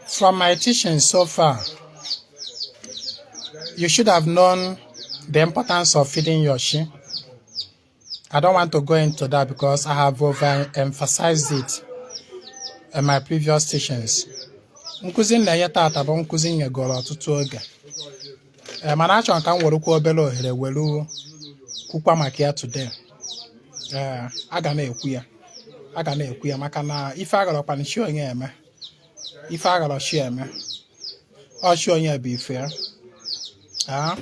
From my teaching so far, you should have known the importance of feeding your sheep. I don't want to go into that because I have overemphasized it in my previous teachings. Nkụzi m na-enye tata bụ nkụzi nyegoro ọtụtụ oge ee eh, mana achọrọ ka m werekwa obere ohere were kwukwa maka ya today ee eh, a ga na-ekwu ya a ga na-ekwu ya maka na ife agharọkwana chi onye eme ife agharọ chi eme ọ chi onye bụ ife ya ah,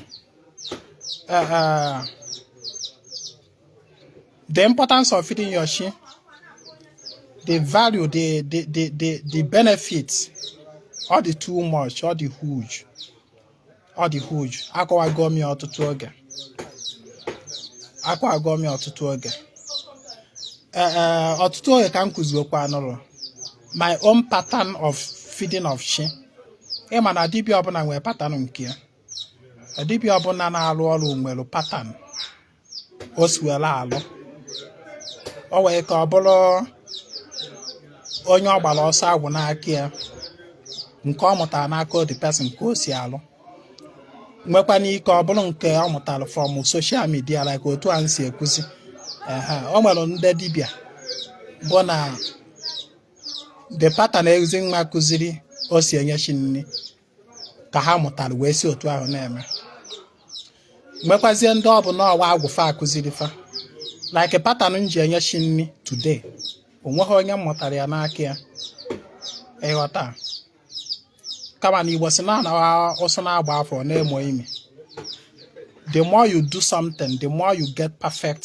eh, The importance of feeding your chi, the value, the, the, the, the, the benefits, ọ dị too much, ọ dị huge, ọ dị huge. Akọwago m ya ọtụtụ oge. Akọwago m ya ọtụtụ oge. Ọtụtụ oge ka m kụziokwanụrụ my own pattern of feeding of chi. Ịma na dibịa ọbụla nwere pattern nke ya. Dibịa ọbụla na-arụ ọrụ nwere pattern. o si were alụ o nwee ike ọ bụrụ onye ọ gbara ọsọ agwụ n'aka ya nke ọ mụtara n'aka the person ka o si alụ nwekwana ike ọ bụrụ nke ọ mụtara from social media like otu a m si ekuzi o nwere ndị dibịa bụ na the pattern Ezinwa kụziri o si enye chi nri ka ha mụtara wee si otu ahụ na-eme nwekwazie ndị ọ bụ na ọ wụ agwụ fa kụziri fa like pattern m ji enye chi nri today o nweghị onye m mụtara ya n'aka ya ị ghọta kama na Igbo sị na anawa ụsụ na-agba afọ ọ na-emo imi the more you do something the more you get perfect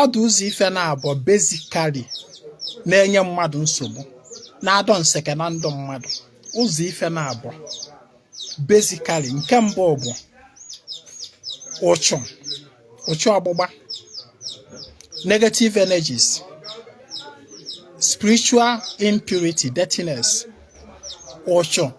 ọ dị ụzọ ife naabọ basically na-enye mmadụ nsogbu na-adọ nseke na ndụ mmadụ ụzọ ife naabọ basically nke mbụ bụ ụchụ ụchụ ọgbụgba negative energies spiritual impurity dirtiness ụchụ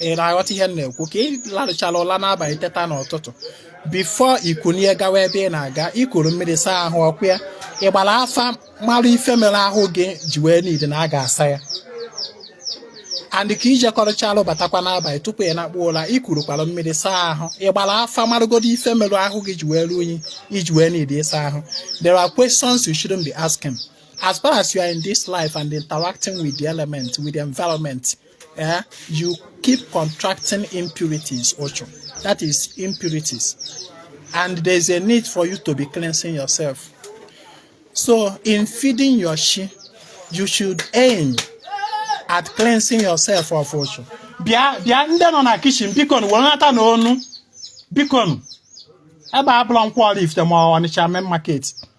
ị na-aghọta ihe m na-ekwu ka ị larụchala ụla n'abalị teta n'ụtụtụ before i kunie gawa ebe ị na-aga i kuru mmiri saa ahụ ọ kwa ị gbara afa mara ife mere ahụ gị ji wee need na a ga-asa ya and ka i jekọrọchalụ batakwa n'abalị tupu ị nakpu ụla i kurukwara mmiri saa ahụ ị gbara afa marụgodo ife merụ ahụ gị ji wee ruo unyi i ji wee need ịsa ahụ there are questions you shouldn't be asking as far as you are in this life and interacting with the element with the environment eh, you keep contracting impurities ụchụ. That is impurities. And there's a need for you to be cleansing yourself. So in feeding your chi, you should aim at cleansing yourself of ụchụ. Bịa bịa ndị nọ na kitchen bikonụ wenatanụ ọnụ bikonụ ebe a abụrọ Nkwọ Oraifite ma Ọnịcha main market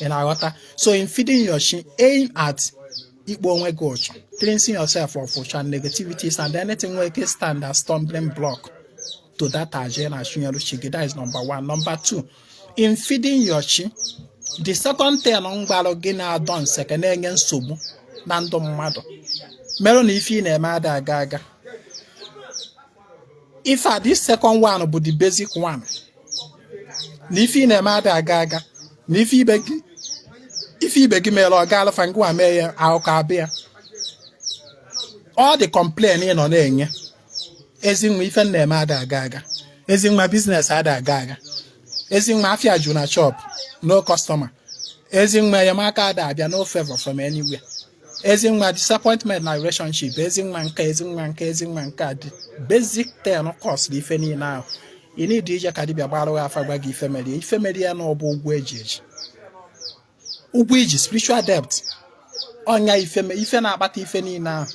ị na-aghọta so in feeding your chi aim at ikpo onwe gị ụchụ cleansing yourself of ụchụ negativities and anything nwere ike stand as stumbling block to that aja ị na-achụnyere chi gị that is number one number two in feeding your chi the second thing m gwara gị na-adọ nseke na-enye nsogbu na ndụ mmadụ merụ na ife ị na-eme ada aga aga in fact this second one bụ the basic one na ife ị na-eme ada aga aga na ife ibe gị ife ibe gị mere ọ gaalụ fa ngwa mee ya akụkọ abịa all the complain ị nọ na-enye ezi nwa ife m na-eme ada aga aga ezi nwa business ada aga aga ezi nwa afia ju na shop no customer ezi nwa enyemaka ada abịa no favor from anywhere ezi nwa disappointment na relationship ezi nwa nke ezi nwa nke ezi nwa nke a the basic thing kọsịrị ife niile ahụ ị need ije ka dibịa gbara gị afa gwa gị ife mere ya ife mere ya na ọ bụ ụgwọ e ji eji ụgwọ i ji spiritual debt ọ nya ife me- ife na-akpata ife niile ahụ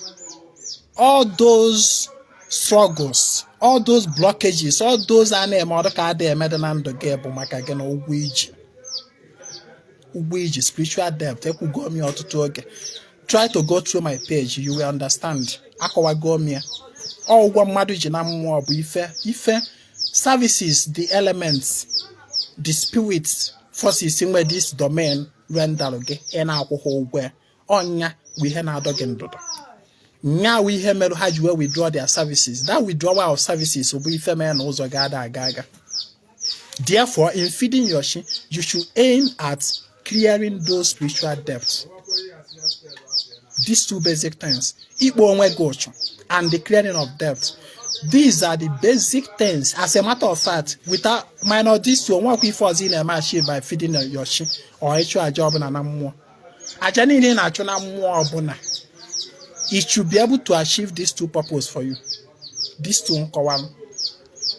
all those struggles all those blockages all those a na-eme ọ dụ ka a dị eme dị na ndụ gị bụ maka gị na ụgwọ i ji ụgwọ i ji spiritual debt ekwugo m ya ọtụtụ oge try to go through my page you will understand akọwago m ya ọ ụgwọ mmadụ ji na mmụọ bụ ife ife services the elements the spirits forces nwe this domain rendered gị ị na-akwụhọ ụgwọ ya ọ nya bụ ihe na-adọ gị ndụdọ nya wụ ihe mere ha ji wee withdraw their services that withdrawal of services bụ ife mere na ụzọ gị ada aga aga therefore in feeding your chi you should aim at clearing those spiritual debts these two basic things ikpo onwe gị ụchụ and the clearing of debts these are the basic things as a matter of fact without minus these two o nwekwa ife ọzọ ị na-achieve by feeding your chi or ịchụ aja ọbụla na mmụọ aja niile ị na-achụ na mmụọ ọbụla it should be able to achieve these two purpose for you these two m kọwara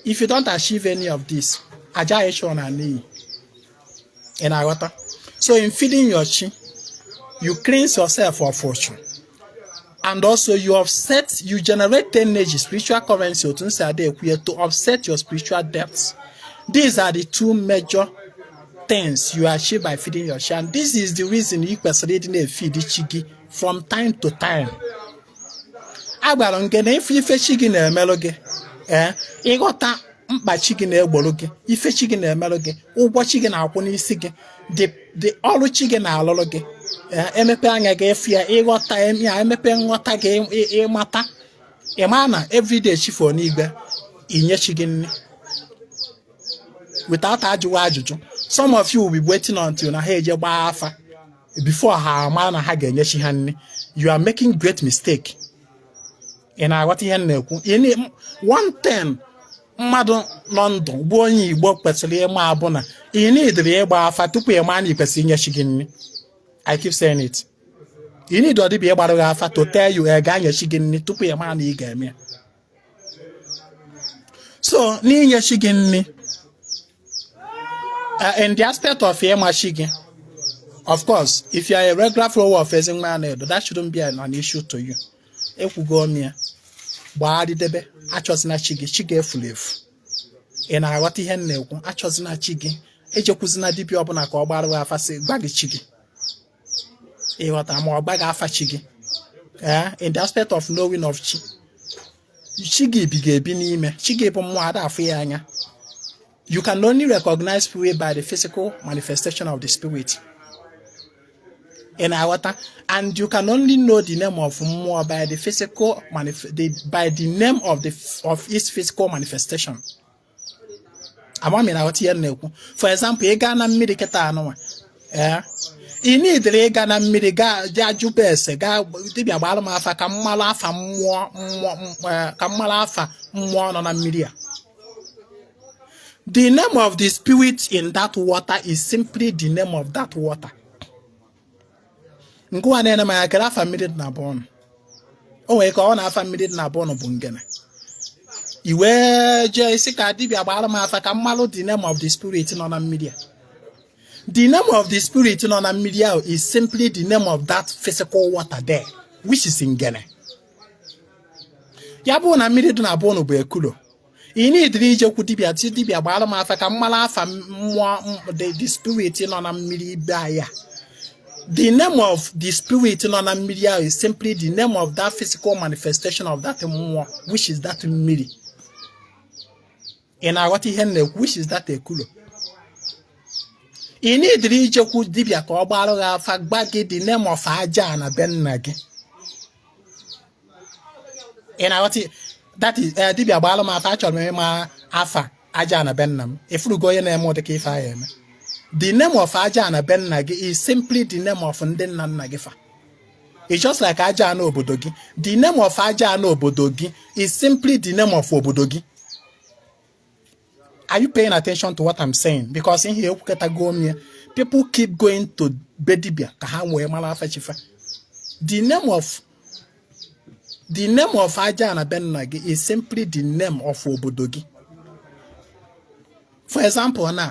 if you don't achieve any of this aja ị chụrụ naa n'iyi ị na-aghọta so in feeding your chi you cleanse yourself of ụchụ and also you offset you generate energy spiritual currency otu m si ada ekwu ya to offset your spiritual debts these are the two major things you achieve by feeding your chi and this is the reason ị kwesịrị ịdị na-efeed chi gị from time to time agwara m gị na ife ife chi gị na-emerụ gị ee ị ghọta mkpa chi gị na-egboro gị ife chi gị na-emerụ gị ụgwọ chi gị na-akwụ n'isi gị the the ọrụ chi gị na-alụrụ gị emepe anya gị ịfụ ya ịghọta ya emepe nghọta gị ịmata ịma na everyday chi fọ n'igwe inye chi gị nri without ajụwa ajụjụ some of you will be waiting until na ha eje gbaa afa before ha ama na ha ga-enye chi ha nri you are making great mistake ị na-aghọta ihe m na-ekwu one thing mmadụ nọ ndụ bụ onye igbo kwesịrị ịma bụ na ị nidirọ ịgba afa tupu ị maa na ị kwesịrị inye chi gị nri i keep saying it ị nidirọ dibịa ịgbara gị afa to tell you ị ga-enye chi gị nri tupu ị maa na ị ga-eme ya so n'inye chi gị nri uh, in the aspect of ịma chi gị of course if you are a regular follower of Ezinwa Anaedo that shouldn't be an issue to you ekwugo m ya gbagharịdebe achọzina chi gị chi gị efurọ efu ị na-aghọta ihe m na-ekwu achọzina chi gị ejekwuzina dibịa ọbụla ka ọ gbara gị afa sị gwa gị chi gị ị ghọta ma ọ gwa gị afa chi gị ee in the aspect of knowing of chi chi gị bi gị ebi n'ime chi gị bụ mmụọ a da-afụ ya anya You can only recognize spirit by the physical manifestation of the spirit. ị na-aghọta and you can only know the name of mmụọ by the physical the, by the name of the of its physical manifestation ama m na-aghọta ihe m na-ekwu for example ị gaa na mmiri kịta anụnwa ee eh, ị nidirọ ịga na mmiri gaa jee jụba ese gaa dibịa gbara m afa ka m malụ afa mmụọ mmụọ eh, ka m malụ afa mmụọ nọ na mmiri a The name of the spirit in that water is simply the name of that water. Ngịwa na-ene m anya kedụ afa mmiri dị na be ụnụ. O nwere ike na afa mmiri dị na be ụnụ bụ ngene. I wee jee ịsị ka dibịa gbara m afa ka m malụ the name of the spirit nọ na mmiri a. The name of the spirit nọ na mmiri ahụ is simply the name of that physical water there, which is ngene. ya bụrụ na mmiri dị na be ụnụ bụ ekulo ị nidirọ ijekwu dibịa sị dibịa gbara m afa ka m malụ afa mmụọ the spirit nọ na mmiri be anyị a the name of the spirit nọ na mmiri ahụ is simply the name of that physical manifestation of that mmụọ which is that mmiri ị na-aghọta ihe m na-ekwu which is that ekulo ị nidirọ ijekwu dibịa ka ọ gbarụ gị afa gwa gị the name of aja ana be nna gị ị na-aghọta ya? that is eh, dibịa gbalụ m afa achọrọ m ịma afa aja ana be nna m ị fụgo onye na-eme ụdị ka ife ahụ eme the name of aja ana be nna gị is simply the name of ndị nna nna gị fa It's just like Ajana obodo gị. The name of Ajana obodo gị is simply the name of obodo gị. Are you paying attention to what I'm saying? Because in here, ekwukọtago m ya. People keep going to be dibia ka ha wee mara afa chi fa. The name of the name of Ajana be nna gị is simply the name of obodo gị. For example, na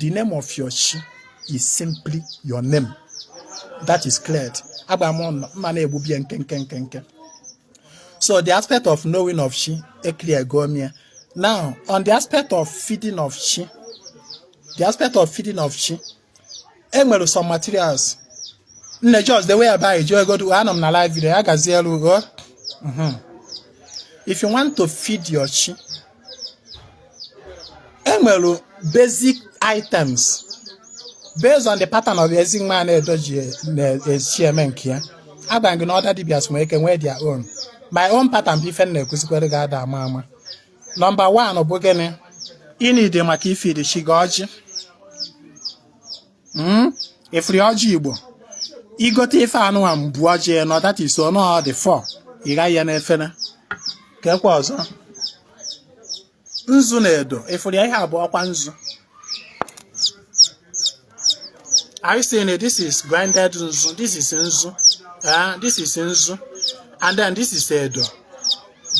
the name of your chi is simply your name that is cleared agba m ọnụ mma na-egbubie nke nke nke nke so the aspect of knowing of chi e clear go m ya now on the aspect of feeding of chi the aspect of feeding of chi enwere some materials nne just the way by ji egodu anọ m na live video ya gazielu ugo if you want to feed your chi enwere basic items based on the pattern of Ezinwa Anaedo ji na-esi eme nke ya agwa gị na other dibias nwere ike nwee their own my own pattern bụ ife m na-ekuzikwere gị ada ama ama number 1 bụ gịnị ị need maka ị feed chi gị ọjị Mm? Ị fụrụ ọjị Igbo. Ị gote ife anụwa bụ ọjị nọ that is ọ nọ dị four. Ị ghanye n'efere. Kekwa ọzọ. Nzu na edo. Ị fụrụ ya ihe a bụ ọkwa nzu. Are you seeing it? This is grinded nzu. This is nzu. Eh, this is nzu. And then this is edo.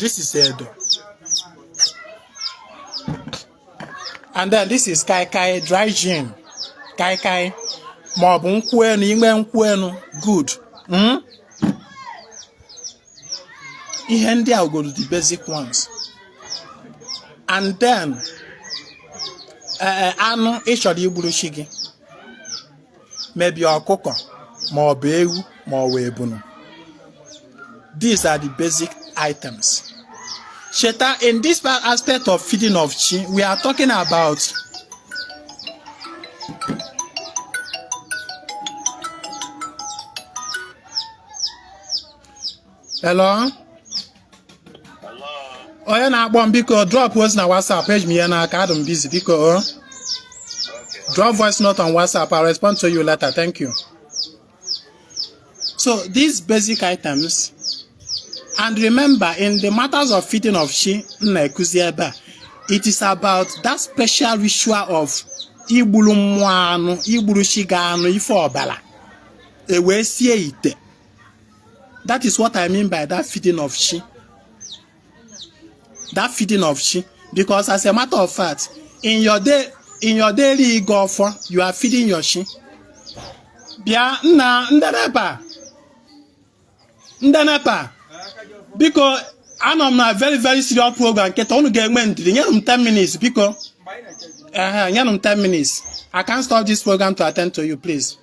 This is edo. and then this is kai kai dry gin kai kai ma ọ bụ nkwụ enu ị nwee nkwụ enu good hmm? ihe ndị a aghọrọ the basic ones and then eh, eh, anụ ị chọrọ igburu chi gị maybe ọkụkọ ma ọ bụ ewu ma ọ bụ ebunu these are the basic items cheta in this aspect of feeding of chi we are talking about hello onye na-akpọ m biko drop ozi na whatsapp eji m ihe n'aka adụ m busy biko o drop voice note on whatsapp i'll respond to you later thank you so these basic items and remember in the matters of feeding of chi m na-ekuzi ebe a it is about that special ritual of igburu mmụọ anụ igburu chi gị anụ ife ọbara e wee sie ite that is what i mean by that feeding of chi that feeding of chi because as a matter of fact in your day in your daily ịgọ ọfọ you are feeding your chi bịa nna ndị nepa ndị nepa biko anọ m na very very serious program kịta unu ga-enwe ndidi nyere m 10 minutes biko ehe nyere m 10 minutes i can't stop this program to attend to you please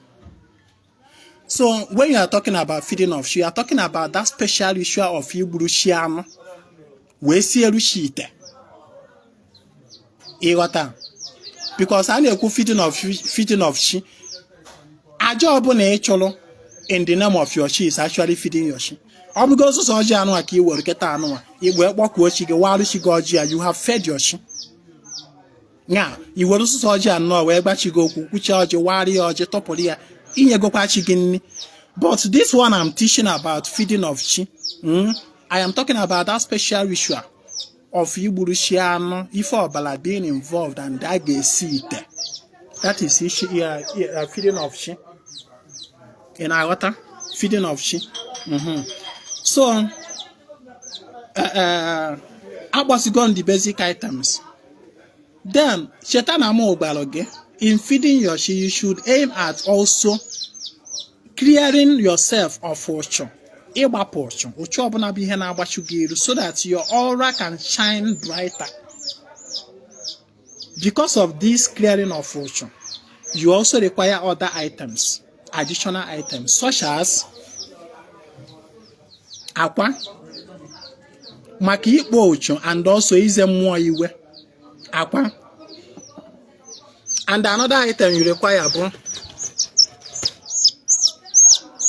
So when you are talking about feeding of chi, you are talking about that special ritual of igburu chi anụ wee sielu chi ite. Ị ghọta because a na-ekwu feeding of feeding of chi aja ọbụla ị chụrụ in the name of your chi is actually feeding your chi. ọ bụgo sọsọ ọjị anụ a ka i were kịta anụ a i wee kpọkuo chi gị warụ chi gị ọjị ya you have fed your chi ya i were sọsọ ọjị anọ wee gwa chi gị okwu kwuchie ọjị warị ya ọjị tọpụrụ ya i nyegokwa chi gị nri but this one I'm teaching about feeding of chi hmm? I am talking about that special ritual of igburu chi anụ ife ọbara being involved and a ga-esi ite that is ishi ya feeding of chi ị na-aghọta feeding of chi mm-hmm. so uh, uh, agwasigo unu the basic items then cheta na mụ gwara gị in feeding your chi you should aim at also clearing yourself of ụchụ ịgbapụ ụchụ ụchụ ọbụla bụ ihe na-agbachu gị iru so that your aura can shine brighter because of this clearing of ụchụ you also require other items additional items such as akwa maka ikpo ụchụ and also ize mmụọ iwe akwa and another item you require bụ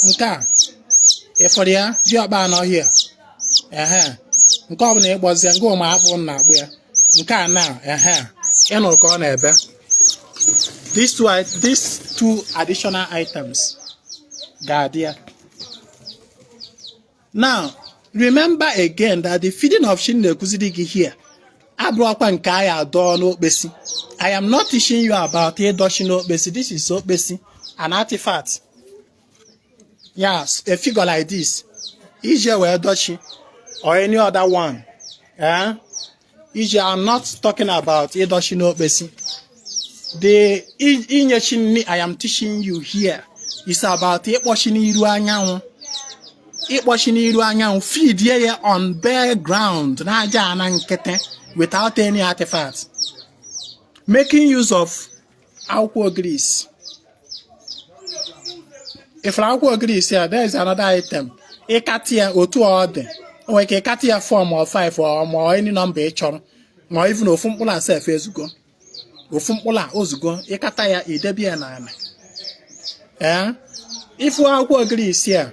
nke a ị fụrụ ya dị ọkpa anọ here ehe nke ọbụla ịgbọzie nke ụmụ hapụ na agbụ ya nke a na ehe ị nụrụ ka ọ na-ebe these two, i- these two additional items ga-adị ya now remember again that the feeding of chi m na-ekuziri gị here abụrọkwa nke a ya-adọ n'okpesi i am not teaching you about ịdọ chi n'okpesi this is okpesi an artifact yes a figure like this e ji wee dọ chi or any other one eh? i am not talking about ịdọ chi n'okpesi the inye chi nri i am teaching you here is about ịkpọ chi n'iru anyanwụ ịkpọ chi n'iru anyanwụ feedie ya on bare ground n'aja ana nkịtị without any artifact making use of akwụkwọ ogirisi ị fụrụ akwụkwọ ogirisi a there is another item ịkatị ya otu ọ dị o nwere ike ịkatị ya 4 ma ọ 5 ọ ma any number ị chọrọ ma even ofu mkpụrụ a sef ezugo ofu mkpụrụ a o zugo ị kata ya i debe ya n'ala ee ị fụ akwụkwọ ogirisi a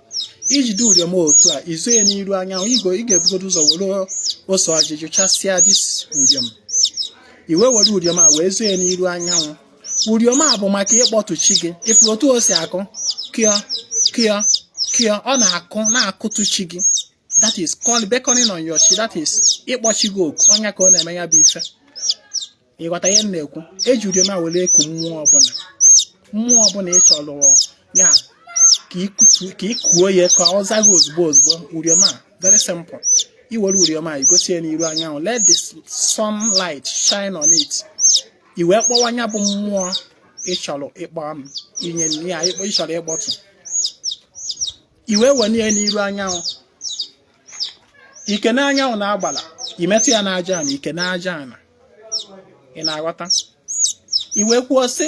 i jide uriom otu a i zo ya n'iru anyanwụ igo ị ga-ebugodo ụzọ were ose ọjị jụchasịa this uriom i wee were uriom a wee zoo ya n'iru anyanwụ uriom a bụ maka ịkpọtụ chi gị ị fụrụ otu o si akụ kịọ kịọ kịọ ọ na-akụ na-akụtụ chi gị that is called beckoning on your chi that is ịkpọ chi gị oku ọ nya ka ọ na-eme ya bụ ife ị ghọta ihe m na-ekwu e ji uriom a were eku mmụọ ọbụla mmụọ ọbụla ị chọrọ ya ka ị kuo ya ka ọ za gị ozugbo ozugbo uriom a very simple i were uriom a i gosi ya n'iru anyanwụ let the sunlight shine on it i wee kpọwa nya bụ mmụọ ị chọrọ ịkpọ m inye ya ị chọrọ ịkpọtụ i wee wenye ya n'iru anyanwụ i kenee anyanwụ na agbala i metụ ya n'aja ana i kenee aja ana ị na-aghọta i wee kwuo sị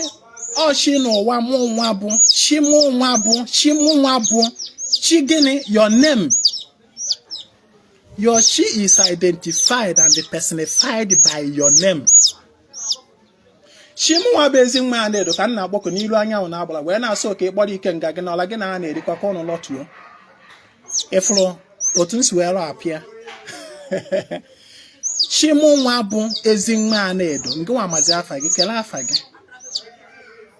o chi n'ụwa mụ nwa bụ chi mụ nwa bụ chi mụ nwa bụ chi gịnị your name your chi is identified and personified by your name chi mụ nwa bụ Ezinwa Anaedo ka m na-akpọku n'iru anyanwụ na agbara wee na-asị ka ị kpọrọ ikenga gị n'ọra gị na ha na-erikọ ka ụnụ lọtuo ị fụrụ otu m si wee rọ apịa chi mụ nwa bụ Ezinwa Anaedo nke nwa mazi afa gị kelee afa gị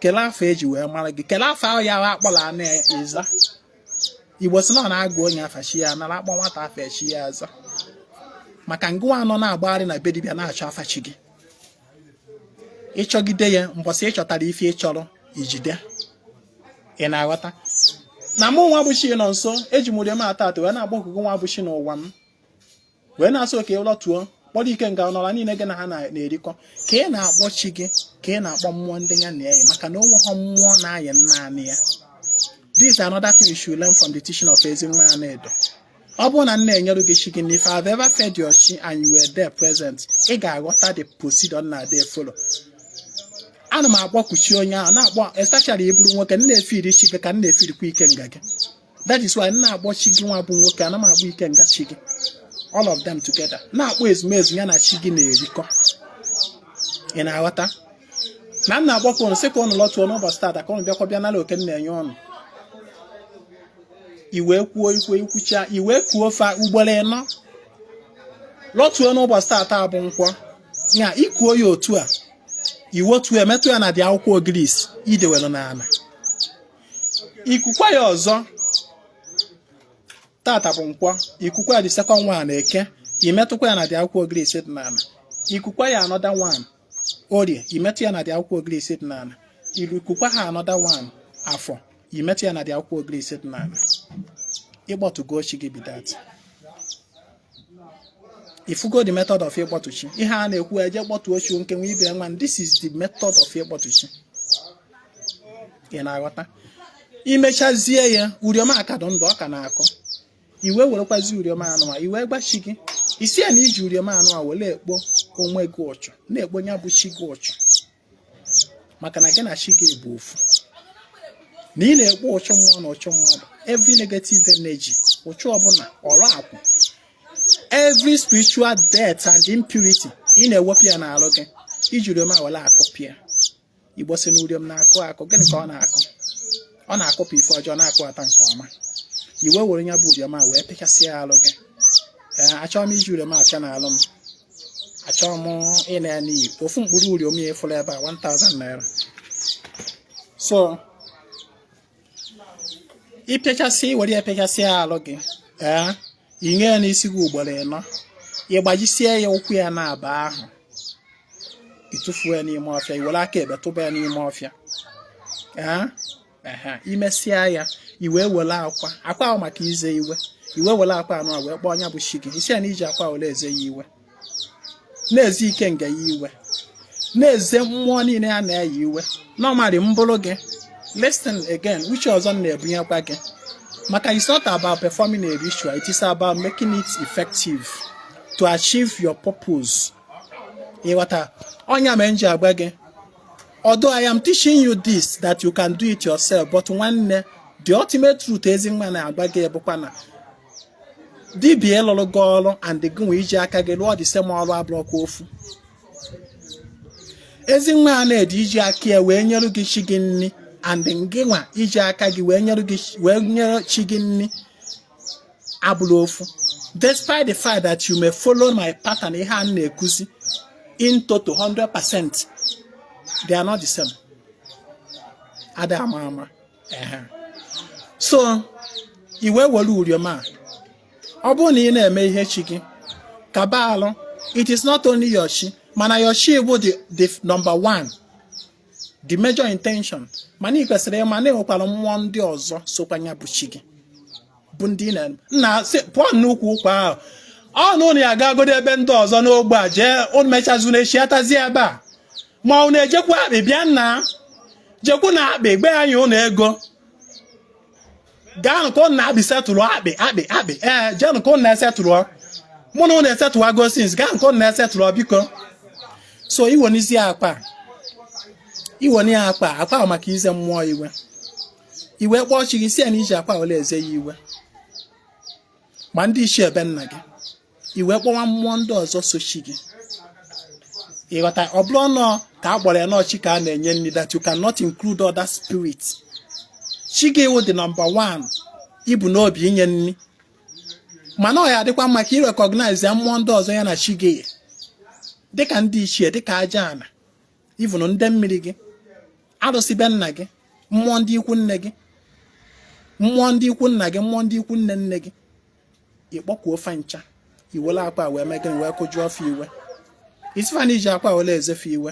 kelee afa e ji wee mara gị kelee afa ahụ ya ahụ akpọrọ a na-eza Igbo sị na ọ na a gụọ onye afa chi ya anara a kpọọ nwata afa chi ya aza maka ngị nwa nọ na-agbagharị na be dibịa na-achọ afa chi gị ị chọgide ya mbọsị ị chọtara ife ị chọrọ i jide ị na-aghọta na mụ nwa bụ Chinọnso eji m uriom atọ atọ wee na-akpọku gị nwa bụ chi n'ụwa m wee na-asị ka ị lọtuo kpọrọ ikenga n'ọra niile gị na ha na-erikọ ka ị na-akpọ chi gị ka ị na-akpọ mmụọ ndị ya na-eyi maka na o nweghọ mmụọ na-ayị naanị ya this is another thing you should learn from the teaching of Ezinwa Anaedo ọ bụrụ na m na-enyere gị chi gị if I've ever fed your chi and you were there present ị ga-aghọta the procedure na dey follow ana m akpọku chi onye ahụ na-akpọ especially ị bụrụ nwoke m na-efiri chi gị ka m na-efirikwa ikenga gị that is why m na-akpọ chi gị nwa bụ nwoke ana m akpọ ikenga chi gị all of them together na-akpọ ezumezu ya na chi gị na-erikọ ị na-aghọta na m na-akpọku unu sị ka unu lọtuo n'ụbọchị tata ka ọnụ bịakwa bịa n'ala oke m na-enye ọnụ iwe kwuo ikwe ikwucha iwe kuo fa ugboro ịnọ lọtuo n'ụbọchị tata bụ nkwọ ya i kuo ya otu a i wetuo i metụ ya na the akwụkwọ ogirisi i dewere n'ala i kukwa ya ọzọ tata bụ nkwọ i kukwa ya the second one eke i metụkwa ya na the akwụkwọ ogirisi dị n'ala i kukwa ya another one orie i metụ ya na the akwụkwọ ogirisi dị n'ala i kukwa ha another one afọ i metụ ya na the akwụkwọ ogirisi dị n'ala ị kpọtugo chi gị be that ị fụgo the method of ịkpọtu chi ihe a na-ekwu eje kpọtuo chi nke nwa ibe nwa this is the method of ịkpọtu chi ị na-aghọta i mechazie ya uriom a ka dị ndụ ọ ka na-akụ i wee werekwazi uriom anụ a i wee gwa chi gị ị sị ya na i ji uriom anụ a were ekpo onwe gị ụchụ na-ekpo ya bụ chi gị ụchụ maka na gị na chi gị bụ ofu na ị na-ekpo ụchụ mmụọ na ụchụ mmadụ every negative energy ụchụ ọbụla ọrakwụ every spiritual dirt and impurity ị na-ewepụ ya n'alụ gị i ji uriom a were akụpụ ya igbo sị na uriom na-akụ akụ gịnị ka ọ na-akụ ọ na-akụpụ ife ọjọọ na-akụbata nke ọma i wee were ya bụ uriom a wee pịchasịa alụ gị ee achọrọ m iji uriom apịa n'alụ m achọrọ m ịna ya n'iyi ofu mkpụrụ uriom ya efuru ebe a 1000 naira so ị pịachasị were ya pịachasị alụ gị ee i nye ya n'isi gị ugboro ịnọ ị gbajisie ya ụkwụ ya naabọ ahụ ị tụfuo ya n'ime ọfịa i were aka ekpe tụba ya n'ime ọfịa ee i mesịa ya i wee were akwa akwa ahụ maka ize iwe i wee were akwa anụ a wee kpọọ nya bụ chi gị ị sị ya na i ji akwa were eze ya iwe na-eze ikenga ya iwe na-eze mmụọ niile a na-eze iwe normally m bụrụ gị listen again uche ọzọ m na-ebunyekwa gị maka it's not about performing a ritual it is about making it effective to achieve your purpose ị ghọta ọ nya mee m ji agwa gị although I am teaching you this that you can do it yourself but nwanne the ultimate truth ezinwa na-agwa gị bụkwa na dibịa ịlụrụ gị ọrụ and gị nwa iji aka gị lụọ the same ọrụ abụrọkwa ofu ezinwa anaedo iji aka ya wee nyere gị chi gị nri and gị nwa iji aka gị wee nyere gị wee nyere chi gị nri abụrọ ofu despite the fact that you may follow my pattern ihe a na-akuzi in total 100% they are not the same ada ama ama Ehe. so i wee were uriom a ọ bụrụ na ị na-eme ihe chi gị kaba alụ it is not only your chi mana your chi bụ the, the number one the major intention mana ị kwesịrị ịma na e nwekwara mmụọ ndị ọzọ sokwa ya bụ chi gị bụ ndị na nna sị pụọ n'ukwu ụkwa ahụ ọnụ na ya agagodi ebe ndị ọzọ n'ogbe a jee unu mechazu na echi atazi ebe a ma unu ejekwa akpị bịa nna jekwu na akpị gbe anyị ụnụ ego gaanụ ka ụnụ na-akpị setụrụ akpị akpị akpị ee jeenụ ka ụnụ na-esetụrụ mụ na ụnụ esetụwago since gaanụ ka ụnụ na-esetụrụ biko so i wenizie akwa i wene ya akwa akwa maka ize mmụọ iwe i wee kpọọ chi gị sị ya na i ji akwa were eze ya iwe ma ndị ichie be nna gị i wee kpọwa mmụọ ndị ọzọ so chi gị ị ghọta ọ bụrọ n'ọ ka a gbara ya n'ọ chi ka a na-enye nri that you cannot include other spirit chi gị wụ the number one i bu n'obi inye nri mana ọ ya-adịkwa mma ka ị recognize ya mmụọ ndị ọzọ ya na chi gị dịka ndị ichie dịka aja ana ebe unu ndị mmiri gị arụsị be nna gị mmụọ ndị ikwu nne gị mmụọ ndị ikwu nna gị mmụọ ndị ikwu nne nne gị ị kpọkuo fa ncha i wele akwa wee mee gịnị wee kụjuo ọfọ i wee sị fa na i ji akwa wele eze fa iwe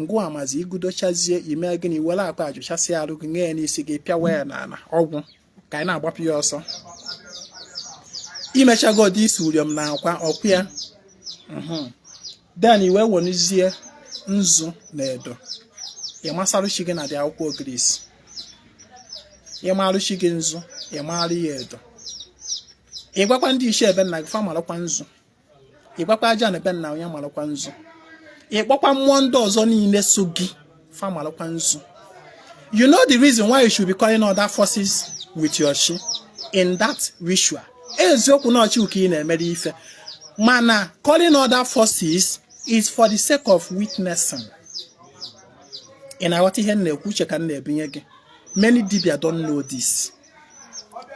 ngwa mazi ị gọdochazie i mee gịnị wele akwa a jụchasịa arụ gị nye ya n'isi gị pịawa ya n'ala ọ gwụ ka anyị na-agbapụ ya ọsọ i mechago this uriom na akwa ọ kwa ya mhm. then i wee werezie nzu na edo ị masarụ chi gị na the akwụkwọ ogirisi ị marụ chi gị nzu ị marụ ya edo ị gwakwa ndị ichie be nna gị fa marakwa nzu ị gwakwa aja ana be nna onye malụkwa nzu ị kpọkwa mmụọ ndị ọzọ niile so gị fa malụkwa nzu you know the reason why you should be calling other forces with your chi in that ritual eziokwu na ọ chi ka ị na-emere ife mana calling other forces is for the sake of witnessing ị na-aghọta ihe m na-ekwu uche ka m na-ebinye gị many dibia don't know this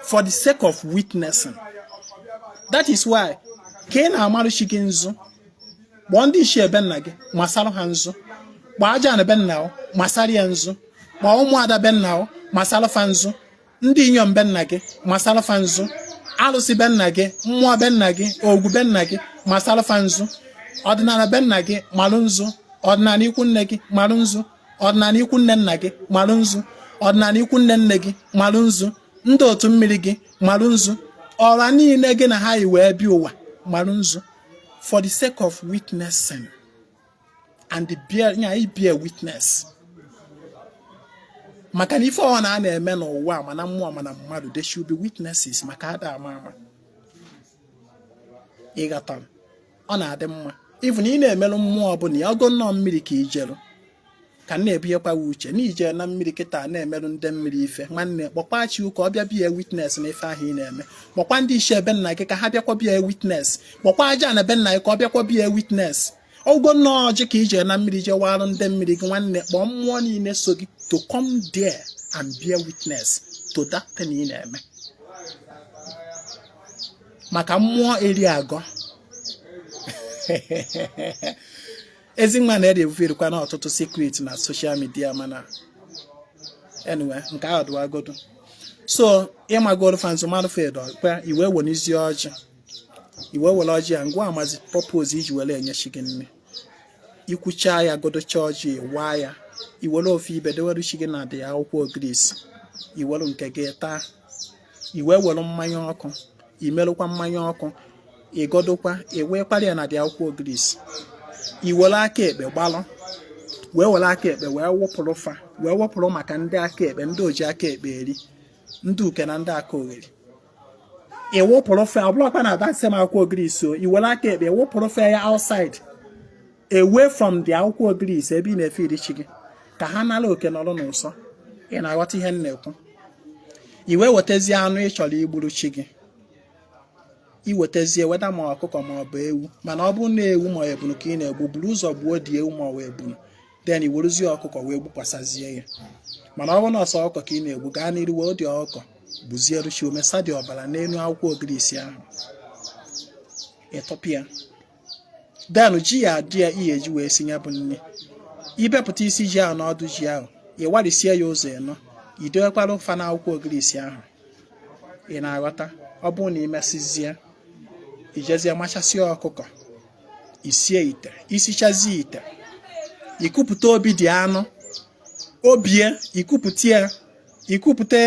for the sake of witnessing that is why ka ị na-amarụ chi gị nzu kpọọ ndị ichie be nna gị masarụ ha nzu kpọọ aja ana be nna o masara ya nzu kpọọ ụmụada be nna o masara fa nzu ndị inyom be nna gị masara fa nzu alụsị be nna gị mmụọ be nna gị ọgwụ be nna gị masara fa nzu ọdịnala be nna gị malụ nzu ọdịnala ikwu nne gị malụ nzu ọdịnala ikwu nne nna gị malụ nzu ọdịnala ikwu nne nne gị malụ nzu ndị otu mmiri gị malụ nzu ọra niile gị na ha yi wee bịa ụwa malụ nzu for the sake of witnessing and the bear nya i bear witness maka na ife ọha na a na-eme n'ụwa ma na mmụọ ma na mmadụ there should be witnesses maka ada ama ama ịghọta ọ na-adị mma even ị na-emerụ mmụọ ọbụla ya ọ bụgo na ọ mmiri ka i jeru ka na-ebunyekwa ya uche na ije na mmiri kịta na-emerụ ndị mmiri ife nwanne kpọkwa chi gị ka ọ bịa bear witness na ife ahụ ị na-eme kpọkwa ndị ichie be nna gị ka ha bịakwa bear witness kpọkwa aja ana be nna gị ka ọ bịakwa bear witness ọ bụgo na ọ ọjị ka i je na mmiri je waarụ ndị mmiri gị nwanne kpọọ mmụọ niile so gị to come there and bear witness to that thing ị na-eme maka mmụọ eri agọ ezi nwa Nri ebuferekwa na ọtụtụ secret na social media mana anyway nke ahụ dịwagodu so ị magoro fa nzu marụ fa edo ọkwa i wee wenizie ọjị i wee were ọjị ya gwamazie purpose iji were enye chi gị nni ikwucha ya gọdocha ọjị waa ya iwere ofu ibe dewere chi gị na the akwụkwọ ogirisi iwere nke gị taa i wee were mmanya ọkụ imerụkwa mmanya ọkụ ịgọdokwa i wee gbara ya na the akwụkwọ ogirisi iwere aka ekpe gbalụ wee were aka ekpe wee wụpụrụ fa wee wụpụrụ maka ndị aka ekpe ndị o ji aka ekpe eri ndị uke na ndị akalogheri ịwụpụrụ fa ọ bụlọkwa na that same akwụkwọ ogirisi o iwere aka ekpe wụpụrụ fa ya outside away from the akwụkwọ ogirisi ebe ị na-efe nri chi gị ka ha nara oke nọrọ n'ụsọ ị na-aghọta ihe m na-ekwu i wee wetazie anụ ị chọrọ igburu chi gị iwetazie whether ma ọkụkọ ma ọ bụ ewu mana ọ bụrụ na ewu ma ọ ebunu ka ị na-egbu buru ụzọ gbuo the ewu ma ọ bụ ebunu then i werezie ọkụkọ wee gbukwasịzie ya mana ọ bụrụ na ọ sọ ọkụkọ ka ị na-egbu gaa n'iru were the ọkụkọ gbuzierụ chi gị mesa the ọbara n'elu akwụkwọ ogirisi ahụ ịtọpịa then ji ya adị ya ihe eji wee si ya bụ nni ibepụta isi ji ahụ na ọdụ ji ahụ ị warisie ya ụzọ ịnọ i dowekwarụ fa na akwụkwọ ogirisi ahụ ị na-aghọta ọ bụrụ na ị mesịzie ijezie machasịa ọkụkọ isie ite isichazie ite ikupụta obi the anụ obi ya ikupụta ya ikupụta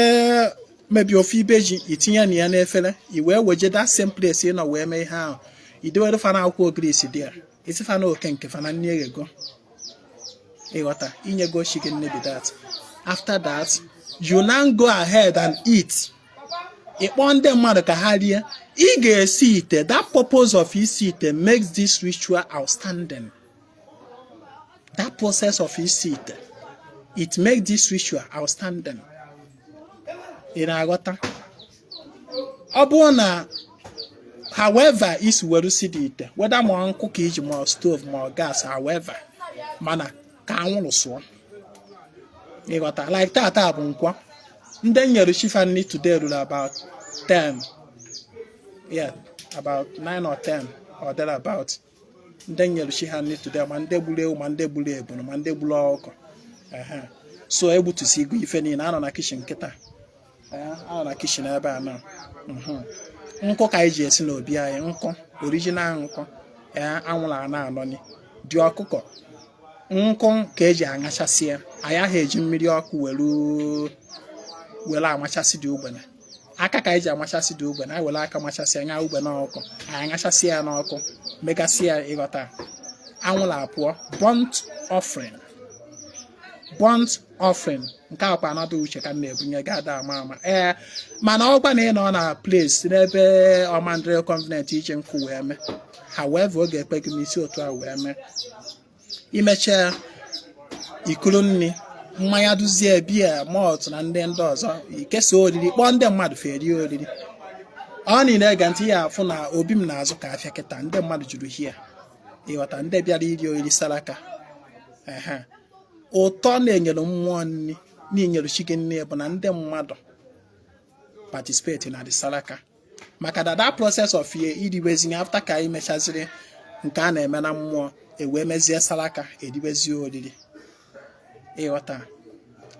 maybe ofu ibe ji itinye na ya n'efere i wee weje that same place ị nọ wee mee ihe ahụ idewere fa na akwụkwọ ogirisi there ị sị fa naa oke nke fa na nni eghego ịghọta inyego chi gị nni be that after that you now go ahead and eat ịkpọ ndị mmadụ ka ha rie ị ga-esi ite that purpose of isi ite makes this ritual outstanding that process of isi ite it makes this ritual outstanding ị na-aghọta ọ bụrụ na however i si were si the ite whether ma nkụ ka i ji ma stove ma gas however mana ka anwụrụ sụọ ịghọta like tata bụ nkwọ ndị nyere chi fa nri today ruru about 10 yeah about 9 or 10 or there about ndị nyere chi ha nri today ma ndị gburu ewu ma ndị gburu ebunu ma ndị gburu ọkụkọ so egbutusigo ife niile anọ na kitchen kịta anọ na kitchen ebe a na mhm nkụ ka anyị ji esi n'obi anyị nkụ original nkụ ee anwụrụ a na-anọni the ọkụkọ nkụ ka eji aṅachasị ya anyị ahụ eji mmiri ọkụ were amachasị the ugbene aka ka anyị ji amachasị the ugbene anyị were aka machasịa nya ugbene ọkụ anyị aṅachasị ya n'ọkụ megasị ya ịghọta anwụrụ apụọ burnt offering burnt offering nke akwa anata uche ka m na-ebunye gị ada ama ama ee mana ọ bụrụ na ị nọ na place n'ebe ọ ma ndịrị convenient iji nkụ wee mee however ọ ga-ekwe gị n'isi otu a wee mee imechaa iburu nri mmanya duzie beer malt na ndị ndị ọzọ ikesa oriri kpọọ ndị mmadụ fa erie oriri ọ niile ege ntị ya afụ na obi m na-azụ ka afịa kịta ndị mmadụ juru here ịghọta ndị bịara iri oriri saraka ehe ụtọ na-enyere mmụọ nri na inyere chi gị nri bụ na ndị mmadụ participate na the saraka maka na that process of ee iriwezi nri after ka anyị mechaziri nke a na-eme na mmụọ ewee mezie saraka eriwezie oriri ịghọta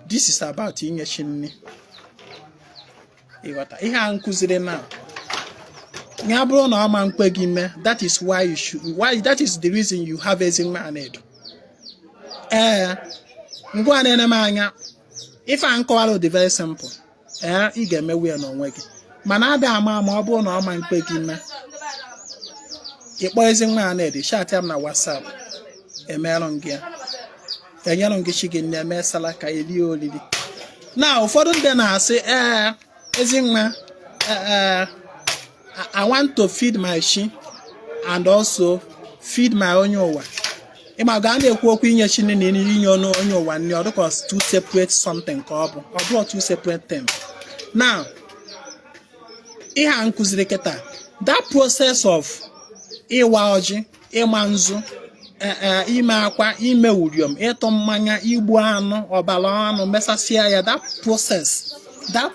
this is about inye chi nri ịghọta ihe a m kụziri na ya bụrụ na ọ ma nkwe gị mee that is why you should why that is the reason you have ezinwa anaedo ee ngwa na-ene m anya ife a m kọwara dị very simple ee ị ga-emewu ya n'onwe gị mana ada ama ama ọ bụrụ na ọ ma nkwe gị mee ịkpọ ezinwa anaedo chatịa m na WhatsApp emerụ m gị ya enyere gị chi gị nni mee salaka elie olili na ụfọdụ ndị na-asị ee ezinwa ee I want to feed my chi and also feed my onye ụwa ịma ka a na-ekwu okwu inye chi nni na inye ọnụ onye ụwa nni ọ dịka two separate something ka ọ bụ ọ bụrụ two separate things now ihe a m kụziri kịta that process of ịwa ọjị ịma nzu e, e, ime akwa ime uriom ịtụ mmanya igbu anụ ọbara anụ mesasịa ya that process that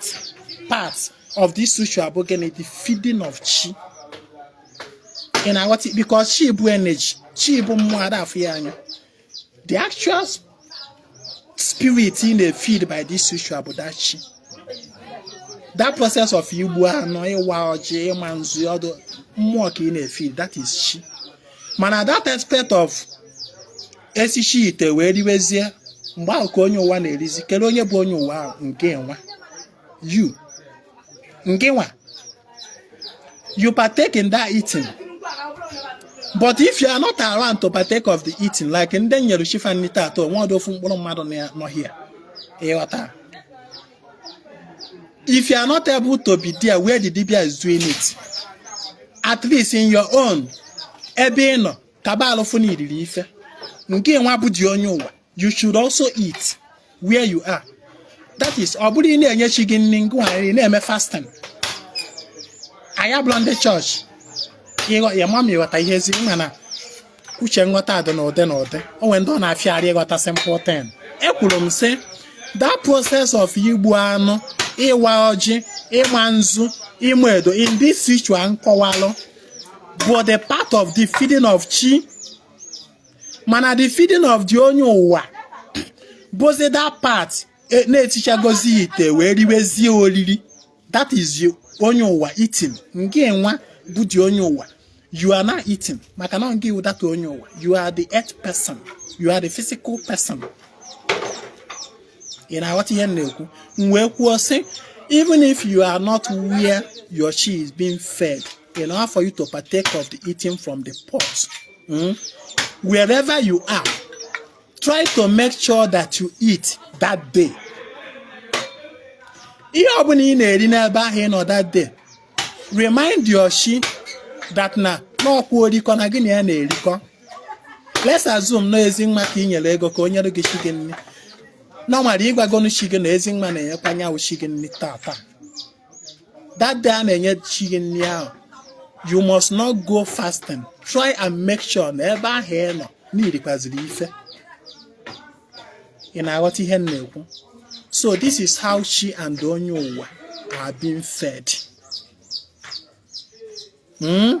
part of this ritual bụ gịnị the feeding of chi ị na-aghọta because chi bụ energy chi bụ mmụọ a da-afụ ya anya the actual spirit ị na-efeed by this ritual bụ that chi that process of igbu anụ ịwa ọjị ịma nzu ọ ndị mmụọ ka ị na-efeed that is chi mana that aspect of esicha ite wee riwezie mgbe ahụ ka onye ụwa na-erizi kelee onye bụ onye ụwa ngịnwa you ngịnwa you partake in that eating but if you are not around to partake of the eating like ndị nyere chi fa nri taata o nwerọdụ ofu mkpụrụ mmadụ nọ here ịghọta if you are not able to be there where the dibia is doing it at least in your own ebe ị nọ ka gbalị fụ na i riri ife ngịnwa bụ the onye ụwa you should also eat where you are that is ọ bụrọ ị na-enye chi gị nri ngịnwa ị na-eme fasting anyị abụrọ ndị chọọchị ya ma m ịghọta ihe ezi mana uche nghọta dị n'ụdị n'ụdị o nwere ndị ọ na-afịarị ịghọta simple thing ekwuru m sị that process of igbu anụ ịwa ọjị ịma nzu ịma edo in this ritual m kọwalụ bụ the part of the feeding of chi mana the feeding of the onye ụwa bụzi that part e- na esichagozia ite wee riwezie oriri that is you, onye ụwa eating ngịnwa bụ the onye ụwa you are now eating maka na ngị wụ that onye ụwa you are the earth person you are the physical person ị na-aghọta ihe m na-ekwu m wee kwuo sị even if you are not where your chi is being fed in order for you to partake of the eating from the pot. Hmm? Wherever you are, try to make sure that you eat that day. ihe ọbụla ị na-eri n'ebe ahụ ị nọ that day remind your chi that na n'ọkwa orikọ na gị na ya na-erikọ let's assume na Ezinwa ka ị nyere ego ka o nyere gị chi gị nri normally ị gwagonu chi gị na Ezinwa na-enyekwa nya wụ chi gị nri taa taa that day a na-enye chi gị nri ahụ you must not go fasting try and make sure na ebe ahụ ị nọ na i rikwaziri ife ị na-aghọta ihe m na-ekwu so this is how chi and onye ụwa are being fed. Hmm?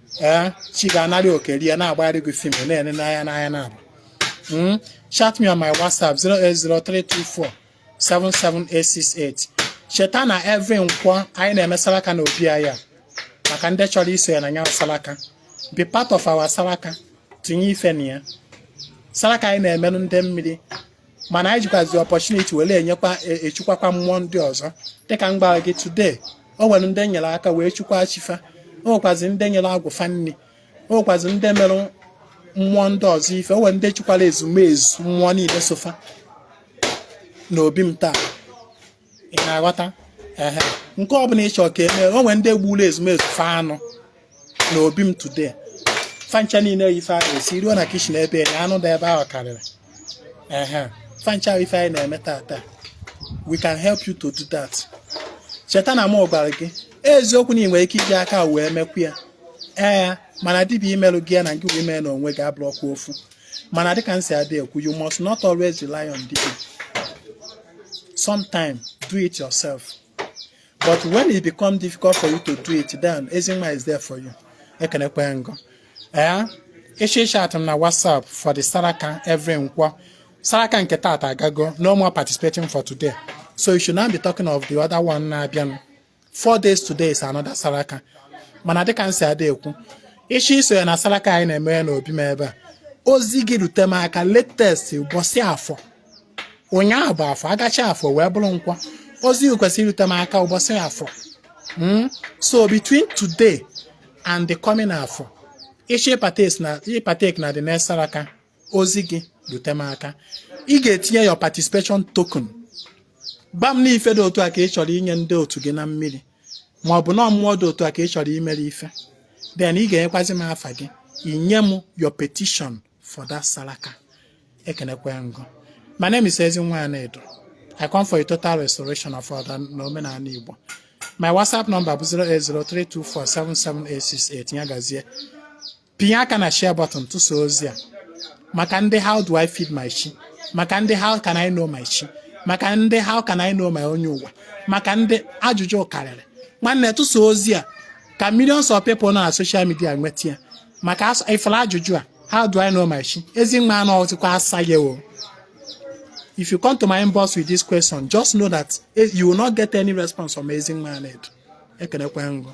ee eh, chi ga-anarị oke rie na-agbagharị gị fim na-ene n'anya naabọ hmm? chat me on my whatsapp 08032477868 cheta na every nkwọ anyị na-eme salaka na obi anyị maka ndị chọrọ iso ya na nya salaka be part of our salaka tinye ife na ya salaka anyị na-emerụ ndị mmiri mana anyị jikwazi opportunity wele e, echukwakwa mmụọ ndị ọzọ dịka m gwara gị today o nwere ndị nyere aka wee chukwa chi fa o nwekwazi ndị nyere agwụ fa nri o nwekwazi ndị mere mmụọ ndị ọzọ ife o nwere ndị chukwara ezumezu mmụọ niile so fa n'obi m taa ị na-aghọta ehe nke ọ bụla ị chọrọ ka e mee o nwere ndị gburu ezumezu fa anụ na obi m today fa ncha niile yi ife ahụ esi ruo na kitchen ebe ya anụ dị ebe ahụ karịrị ehe fa ncha bụ ife anyị na-eme taata we can help you to do that cheta na mụ gwara gị eziokwu na ị nwere ike iji aka wee mekwu ya ee mana dibịa imelụ gị ya na gị wee mee na onwe gị abụrọkwa ofu mana dịka m si adị ekwu you must not always rely on dibịa sometimes do it yourself but when it become difficult for you to do it then Ezinwa is there for you ekenekwe m gị o ee ịchọ ịchat m na WhatsApp for the Saraka every nkwọ Saraka nke taata agago no more participating for today so you should now be talking of the other one na-abịanụ four days today is another saraka mana dịka m si adị ekwu ịchọ iso ya na saraka anyị na-eme n'obi m ebe a ozi gị rute m aka latest ụbọchị afọ ụnyaahụ bụ afọ agachaa afọ wee bụrụ nkwọ ozi gị kwesịrị irute m aka ụbọchị afọ Mm? so between today and the coming afọ ịchọ ịpartake na the next saraka ozi gị rute m aka ị ga-etinye your participation token gba m n'ife dị otu a ka ị chọrọ inye ndị otu gị na mmiri ma ọ bụ na mmụọ dị otu a ka ị chọrọ imere ife then ị ga-enyekwazi m afa gị inye m your petition for that saraka ekenekwe m gị my name is Ezinwa Anaedo I come for a total restoration of order na omenala Igbo my WhatsApp number bụ 08032477868 ya gazie pinye aka na share button tụsa ozi a maka ndị how do I feed my chi maka ndị how can I know my chi maka ndị how can I know my onye ụwa maka ndị ajụjụ karịrị nwanne tụsa ozi a ka millions of people nọ na social media nweta ya maka ifụla ajụjụ a how do I know my chi Ezinwa anọghịkwa asa ya o if you come to my inbox with this question just know that eh, you will not get any response from Ezinwa Anaedo ekenekwe m gị